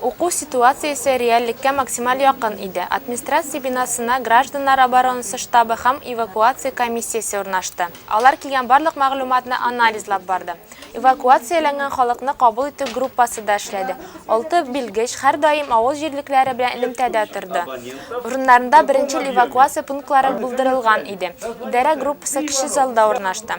Уку ситуациясе реальлеккә максималь якын иде. Администрация бинасына гражданнар оборонасы штабы һәм эвакуация комиссиясе урнашты. Алар килгән барлык мәгълүматны анализлап барды. Эвакуацияләнгән халыкны кабул итү группасы да эшләде. Алты белгеч һәрдаим авыл җирлекләре белән элемтәдә торды. Урыннарында беренчел эвакуация пунктлары булдырылган иде. Идарә группасы кече залда урнашты.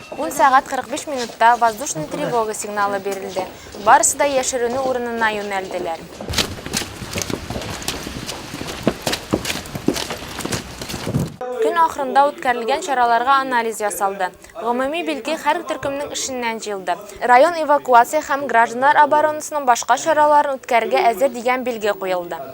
Ун сәгать 45 минутта воздушный тревога сигналы бирелде. Барысы да яшеренү урынына юнәлделәр. Көн ахырында үткәрелгән чараларга анализ ясалды. Гомуми билге һәр төркемнең эшеннән җыелды. Район эвакуация һәм гражданнар оборонасының башка чараларын үткәрергә әзер дигән билге куелды.